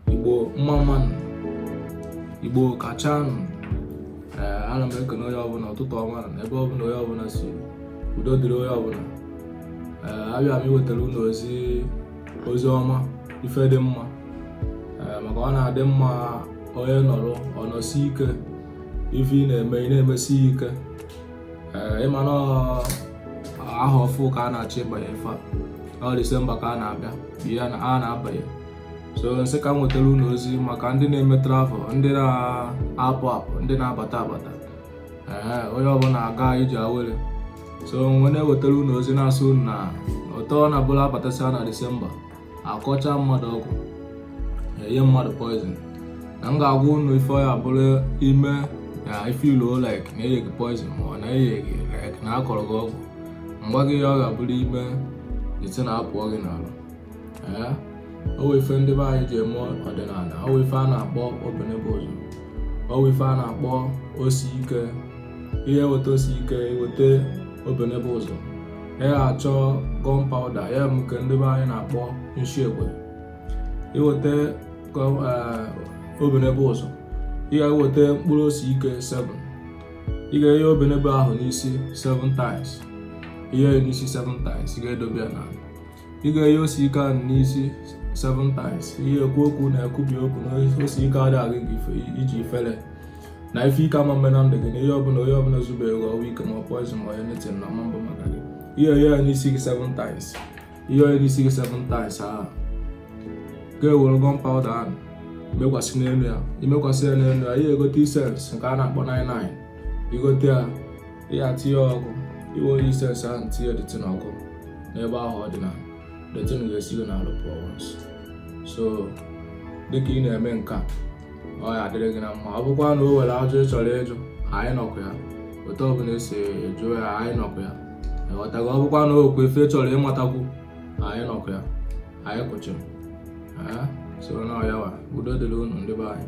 igbo mma mma nụ igbo kacha nụ ee ana m ekene onye ọbụla ụtụtụ ọma na ebe ọbụla onye ọbụla si udo dịrị onye ọbụla ee abịa m iwetara unu ozi ozi ọma ife dị mma ee maka ọ na-adị mma onye nọrọ ọ nọsi ike ife ị na-eme ị na-emesi ya ike ee ịma na ọ- aha ọfụ ka a na-achọ ịbanye ife a ọ Disemba ka a na-abịa bụ ya na a na-abanye so m sị ka m wetara unu ozi maka ndị na-eme travel ndị na-apụ apụ ndị na-abata abata ee onye ọbụla ga-eji aware so m wee na-ewetara unu ozi na-asị unu na ụtọ na bụla abatasịa na disemba a kọcha mmadụ ọgwụ e nye mmadụ poison na m ga-agwa unu ife ọ ya-abụrụ i mee na ife ilu like na e nye gị poison ma ọ na e nye gị like na a kọrọ gị ọgwụ mgba gị ya ọ ga-abụrụ i mee the thing apụọ gị n'arụ o nwe ife ndị be anyị ji eme ọdịnala o nwe ife a na-akpọ obenebe ụzọ o nwe ife a na-akpọ ose ike ị ya-eweta ose ike weta obenebe ụzọ ị ya-achọ gunpowder ya bụ nke ndị be anyị na-akpọ nshi egbe i weta obenebe ụzọ ị ga-eweta mkpụrụ ose ike 7 ị ga-enye obenebe ahụ n'isi 7 times i nye n'isi 7 times ị ga-edobe ya na ị ga-enye ose ike ahụ n'isi seven times ị ya-ekwu okwu na-ekwubi okwu na ose ike adịghị eje ije ifere na ife ike ama mme na ndụ gị na ihe ọbụla onye ọbụla zubere gị ọgwụ ike ma ọ poison ma ọ anything na ọ ma mbụ maka gị ị ya-enye ya n'isi gị seven times i nye n'isi gị seven times ahụ ị ga-ewere gunpowder ahụ mekwasị n'elu ya i mekwasị ya n'elu ya ị ya-egote incense nke a na-akpọ 99 i gote ya ya tinye ọkụ i were incense ahụ tinye the thing ọkụ n'ebe ahụ ọ dị na the thing ga-esi gị n'arụ pụọ so dịka ị na-eme nke a ọ ya-adịrị gị na mma ọ bụkwa na o nwere ajụjụ ị chọrọ ịjụ anyị nọkwa ya otu ọbụla e si jụọ ya anyị nọkwa ya ị ghọtago ọ bụkwa na o nwekwu ife ị chọrọ ịmatakwu anyị nọkwa ya anyị kwụchiri so na ọ ya wa udo dịrị unu ndị be anyị